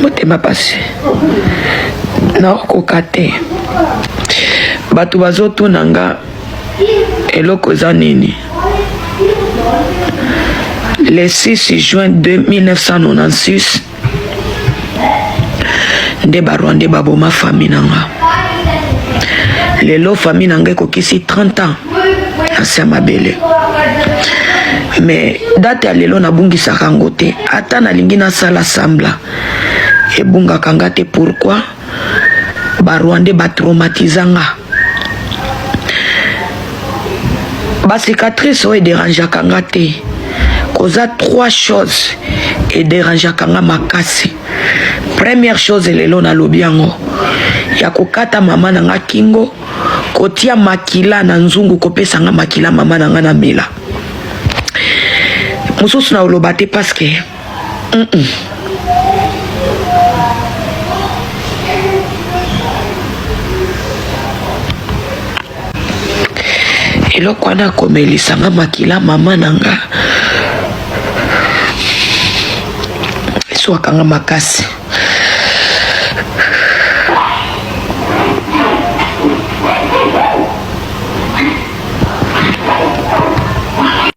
motema pasi naokoka te bato bazotuna nga eloko eza nini le 6 juin 1996 nde ba rwandais baboma famille na nga lelo famille na nga ekokisi 30 ans na se mabele mais date ya lelo nabungisaka yango te ata nalingi nasala sambla ebungaka nga te pourquoi ba rwandais ba traumatisa nga ba cicatrice oyo ederangeaka nga te koza trois choses ederangeaka nga makasi première chose lelo nalobi yango ya kokata mama na nga kingo kotia makila na nzungu kopesa nga makila mama na nga na mela mosusu na oloba te paske eloko wana akomelisa nga makila mama na nga eswaka nga makasi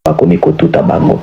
bakomi kotuta bango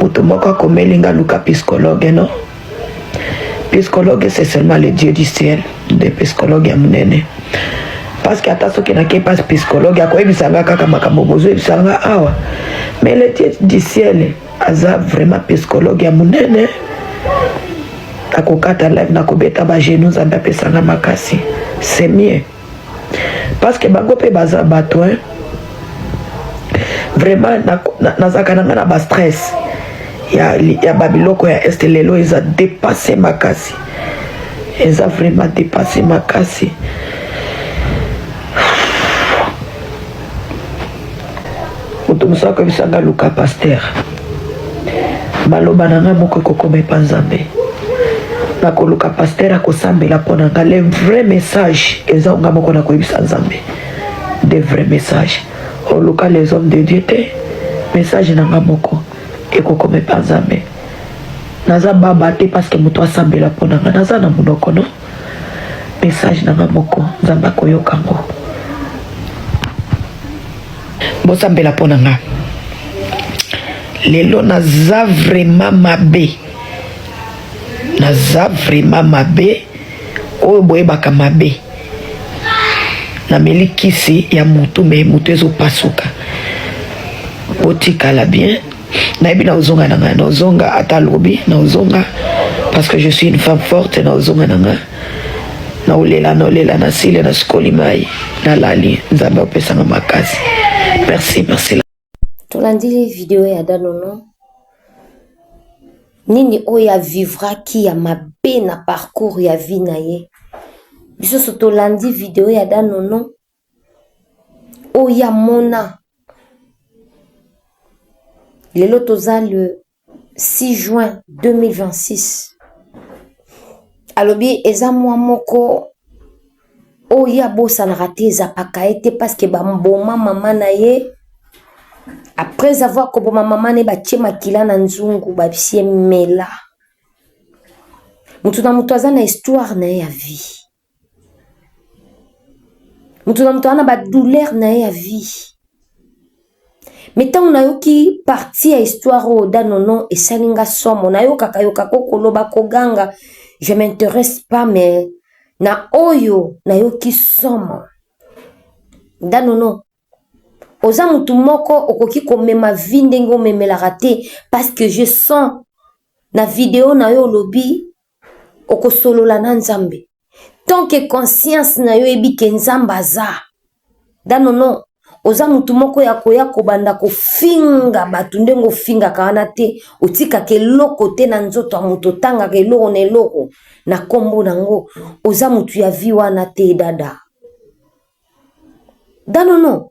moto moko akomeli nga luka psychologue non psychologue c'est seulement le dieu du ciel nde psychologue ya monene parce que ata soki nake pas psychologue akoyebisa nga kaka makambo bozoyebisa nga awa mais le dieu du ciel aza vraiment psychologue ya monene akokata live nakobeta bagenu nzambe apesanga makasi c'est mieux parce que bango pe baza bato hein vraiment nazalaka na nga na ba stress ya, ya babiloko ya este lelo eza depasse makasi eza vraiment depasse makasi moto mosusu akoyebisa nga luka paster maloba na nga moko ekokoma epa nzambe nakoluka paster akosambela mpo na nga le vrai message eza nga moko nakoyebisa nzambe de vrai message oluka les hommes de dieu te message na nga moko ekokoma epa nzambe naza baba te parce que moto asambela mpo na nga naza na monoko no Message na nga moko Nzambe akoyoka ngo. Bosambela mpo na nga lelo naza vraiment mabe naza vraiment mabe oyo boyebaka mabe nameli kisi ya motu me motu ezopasuka botikala bien nayebi na ozonga na nga na ozonga ata lobi na ozonga parce que je suis une femme forte na ozonga na nga na olela na olela na sile na sukoli mai nalali nzambe opesanga makasi merci merci tolandi video ya danono nini oyo avivraki ya mabe na parcours ya vie na ye biso so tolandi video ya danono Oya mona lelo toza le 6 juin 2026 alobi eza mwa moko oyo abosanaka te ezapaka ye te parceke bamboma mama na ye après avoir koboma mama na ye batie makila na nzungu babisie mela moto na moto aza na histoire na ye ya vie moto na moto aza na badouleur na ye ya vie me ntango nayoki parti ya histoire oyo da nono esali nga somo nayokaka yoka ko koloba koganga je m'interesse pas mais na oyo nayoki somo da nono oza motu moko okoki komema vie ndenge omemelaka te parce que je sens na video na yo olobi okosolola na nzambe tant que conscience na yo eyebi ke nzambe aza danono oza motu moko ya koya kobanda kofinga bato ndenge ofingaka wana te otikaka eloko te na nzoto ya moto otangaka eloko na eloko na nkombo nango oza motu ya vi wana te dada danono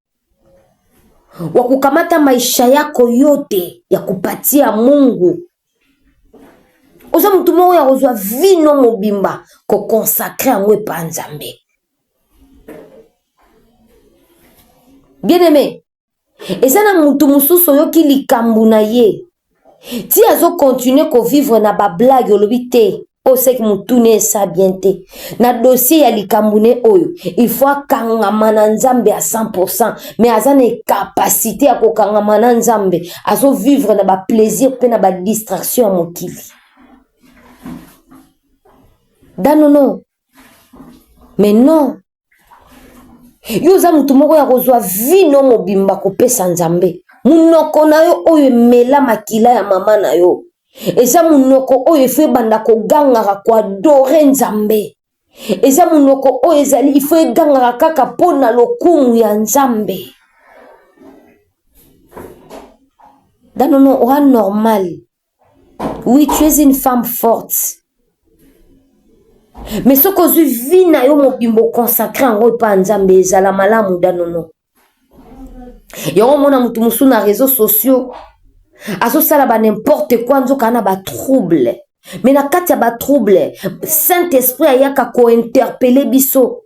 wa kukamata maisha yako yote ya kupatia Mungu. Oza mutu moko ya kozwa vino mobimba kokonsakre yango epa Nzambe. Bien aime, eza na mutu mosusu oyoki likambo na ye Ti azo continuer ko vivre na ba blagues olobi te oyo seke mutu ne esa bien te na dossier ya likambu ne oyo il faut akangama na nzambe à 100 pourcent mais aza na capacite ya kokangama na nzambe azo vivre na ba plaisir pe na ba distraction ya mokili danono mais non yo oza motu moko ya kozwa vino mobimba kopesa nzambe monoko na yo oyo emela makila ya mama na yo eza monoko oyo efo ebanda kogangaka koadore nzambe eza monoko oyo ezali ifo egangaka kaka mpo na lokumu ya nzambe danono oa normale Oui, tu es une femme forte. Mais ce que je vis na yo mobimbo consacré en gros pas nzambe ezala malamu danono. Yango mona mutu musu na réseaux sociaux azosala ba n'importe quoi nzoka na ba trouble. Mais na kati ya ba trouble, Saint-Esprit ayaka ko interpeller biso.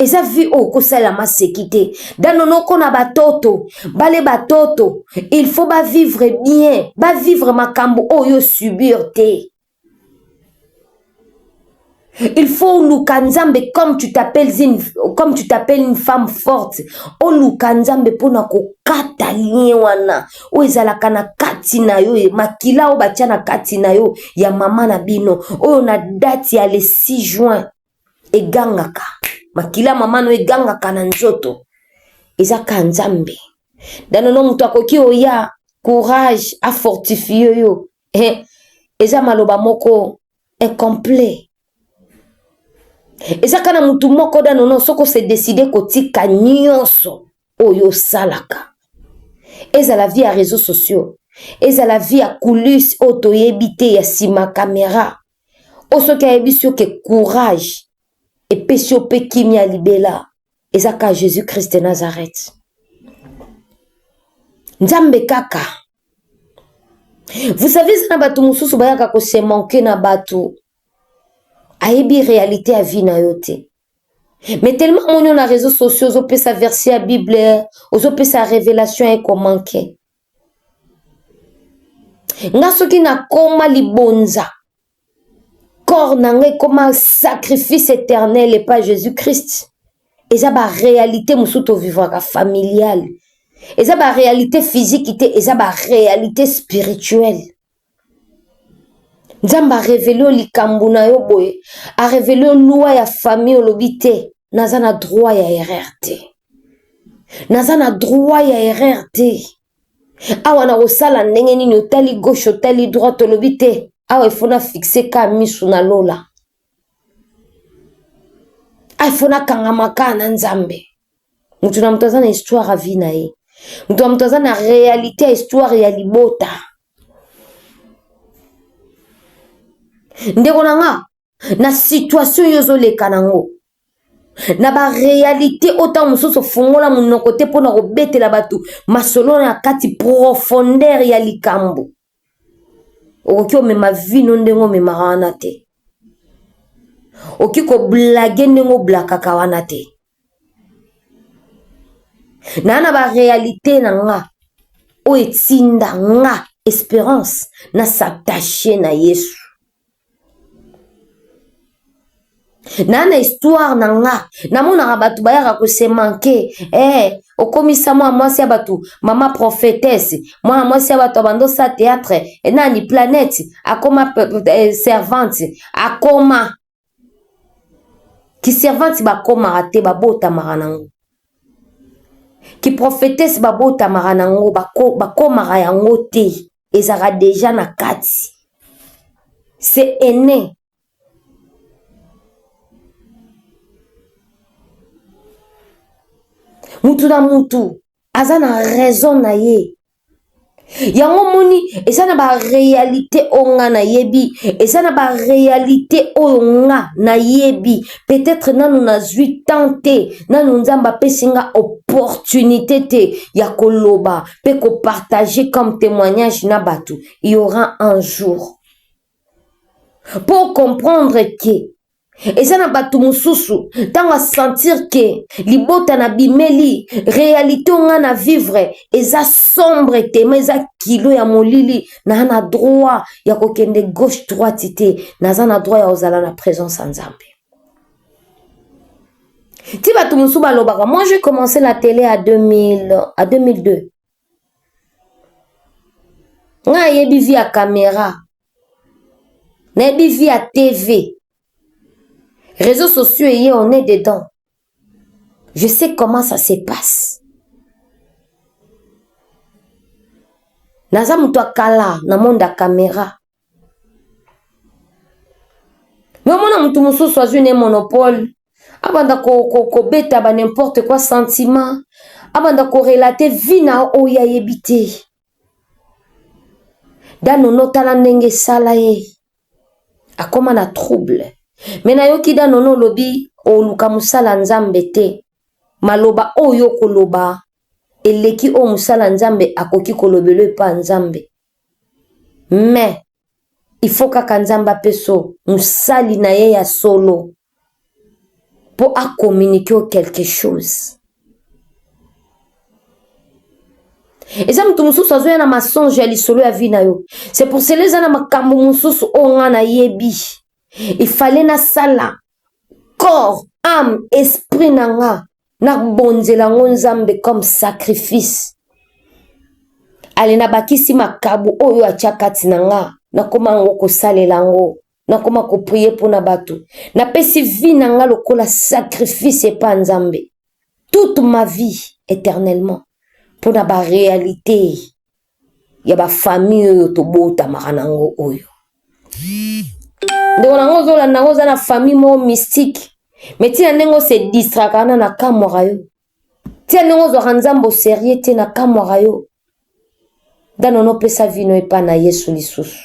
eza vie oyo okosalelama seki te dano noko na batoto bale batoto il faut bavivre bien bavivre makambo oyo subir te il faut oluka nzambe comme tu t'appelles une, comme tu t'appelles une femme forte oluka nzambe mpona kokata lien wana oyo ezalaka na kati na yo makila oyo batya na kati na yo ya mama na bino oyo na date ya le 6 juin egangaka makila mama no egangaka na nzoto eza ka nzambe danono moto akoki oya courage afortifie yo eh, eza maloba moko incomplet ezaka na motu moko danono soko se decide kotika nyonso oyo osalaka ezala vie ya réseaux sociaux ezala vie ya coulisse oyo toyebi te ya nsima kamera oyo soki ayebisi yo ke courage epesi yo mpe kimia libela eza kaka jésus christ de nazareth nzambe kaka vous savez eza na bato mosusu bayaka kosemanke na bato ayebi réalité ya vie na yo te mais tellement amoni yo na réseau sociaux ozopesa verset ya bible ozopesa révélation ye komanke nga soki nakoma libonza corps na nga ekoma sacrifice éternel epa jésus christ eza baréalité mosusu tovivaka familiale eza baréalité physique te eza baréalité spirituelle Nzambe a revele yo likambu na yo boye, a revele yo loi ya famille olobi te naza na droit ya erreur te, naza na droit ya erreur te. Awa na kosala ndenge nini otali gauche otali droite olobi te awa il faut na fixe ka misu na lola. Ah, faut nakangama kaka na nzambe moto na moto aza na histoire ya vie na ye moto na moto aza na réalité ya histoire ya libota ndeko na nga na situation oyo ozoleka nango na baréalité oyo ntango mosusu ofungola monoko te mpo na kobetela bato masolo na kati profondeur ya likambo okoki omema vino ndenge omemaka wana te okoki koblage ndenge oblakaka wana te naa na barealité na nga oyo etinda nga esperance na s'attache na yesu na na histoire na nga namonaka bato bayaka kosemanke eh, okomisa mwana mwasi ya bato mama prophetese mwana mwasi ya bato abandosa théâtre eh, nani planète akoma eh, servante akoma kiservante bakomaka te babotamaka nango kiprofetese babotamaka nango bakomaka yango te ezalaka deja na kati c'est aine mutu na mutu aza na raison na ye yango moni eza na barealité oyo nga nayebi eza na barealité oyo nga nayebi peut-être nanu nazwi temps te nanu nzambe apesi nga opportunité te ya koloba pe ko partager comme temoignage na batu il y aura un jour pour comprendre que eza na bato mosusu ntango asentir ke libota na bimeli realite o ngai na vivre eza sombre te ma eza kilo ya molili naa na droit ya kokende gauche droite te naza na droit ya kozala na présence ya nzambe ti bato mosusu balobaka moi je commencé la tele à 2000 à 2002 nga ayebi vi ya kamera nayebi vi ya tv réseaux sociaux eye on est dedans je sais comment ça se passe naza moto ya kala na monde ya kamera Mais omona mutu mususu azwi ne monopole abanda kobeta ko, ko ba n'importe quoi sentiment abanda korelate vie na oyo ayebi te danono tala ndenge esala ye akoma na trouble me nayoki danono olobi oluka mosala nzambe te maloba oyo okoloba eleki oyo mosala nzambe akoki kolobela epa nzambe mais il faut kaka nzambe apeso mosali na ye ya solo mpo acommunike yo quelque chose eza moto mosusu azoya na masonge ya lisolo ya vi na yo c'est pour cela eza na makambo mosusu oyo ngai nayebi ifale nasala corps ame esprit na nga nabonzela yango nzambe comme sacrifice ale nabakisi makabo oyo atya kati na nga nakoma yango kosalela yango nakoma koprie mpo na bato napesi vi na nga lokola sacrifice epa nzambe toute ma vie éternellement mpo na barealité ya ba famille oyo tobotamaka na yango oyo ndeko na yango ozolanda yango oza na famille moko mystique me ntina ndenge ose distraka wana na kamwaka yo ntina ndenge ozwaka nzambe oserie te na kamwaka yo ndanono opesa vino epai na yesu lisusu